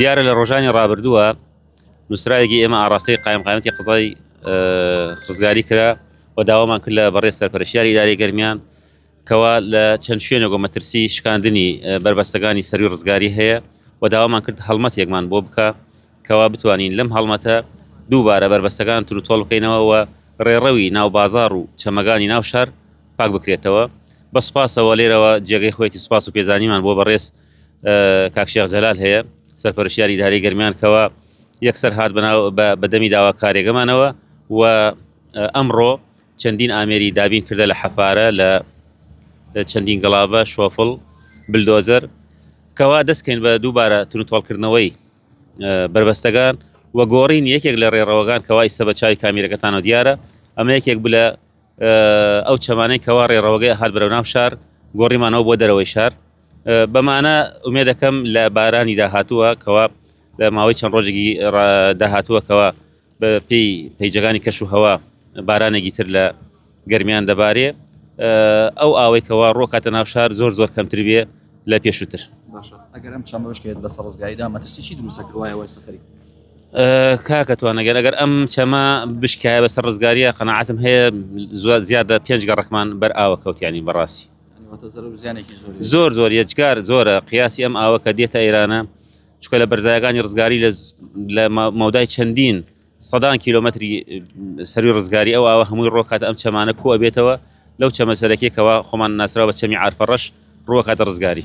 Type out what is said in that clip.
دیارە لە ڕۆژانی ڕابردووە نووسراوێکی ئێمە ئاڕاستەی قایمقامەتی قزای ڕزگاری کرا و داوامان کرد لە بەڕێ سەرپەرشیاری ئیداری گەرمیان کەوا لە چەند شوێنێک و مەترسی شکاندنی بەربەستەکانی سەروی ڕزگاری هەیە و داوامان کرد هەڵمەتێکمان بۆ بکە کەوا بتوانین لەم هەڵمەتە دووبارە بەربەستەکان تر و تۆڵ بکەینەوە و ڕێڕەوی ناو بازار و چەمەگانی ناو شار پاک بکرێتەوە بە سپاسەوە لێرەوە جێگەی خۆێتی سپاس و پێزانیمان بۆ بەڕێز کاک شێخ جەلال هەیە سەرپەرشتیاری ئیدارەی گەرمیان کەوا یەکسەر هات بەناو بە- بە دەمی داواکارێگەمانەوە و ئەمڕۆ چەندین ئامێری دابین کردە لە حەفارە لە چەندین گڵابە شۆفڵ بلدۆزەر کەوا دەستکەین بە دووبارە تونوتۆڵکردنەوەی اه، بەربەستەگان و گۆڕین یەکێک لە ڕێڕەوەگان کەوا ئیسە بە چاوی کامیرەکەتانەوە دیارە ئەمە یەکێک بلە ئەو چەمانەی کەوا ڕێڕەوەگەی ئەهات بەرەو ناو شار گۆڕیمانەوە بۆ دەرەوەی شار بەمانە ئومێ دەکەم لە بارانی داهاتووە کەوا لە ماوەی چەند ڕۆژێکی داهاتووە کەوا بە پێی پەیجەکانی کەش و هەوا بارانێکی تر لە گەرمیان دەبارێ ئەو ئاوەی کەوا ڕۆکاتە ناو شار زۆر زۆر کەمتر بێ لە پێشووتر ئەگەرم چەمەشکێت لە سەڕزگایدا مەترسی چی دروستەکەوایەوە سەخری کاکە توانەگەر ئەگەر ئەم چەمە بشکایە بەسەر ڕزگاریە قەنەعاتم هەیە زواد زیاد لە پێنج گەڕەکمان بەر ئاوە کەوتیانی بەڕاستی زۆر زۆر یەجگار زۆرە قیاسی ئەم ئاوە کە دێتە ئێرانە چکە لە بەرزایەکانی ڕزگاری لە مەودای چەندین سەدان کیلومتری سەروی ڕزگاری ئەو ئاوە هەمووی ڕۆکات ئەم چەمانە کووە بێتەوە لەو چەمە سەرەکیەکەەوە خۆمان ناسرا بە چەمی عرفەڕەش ڕوەکاتە ڕزگاری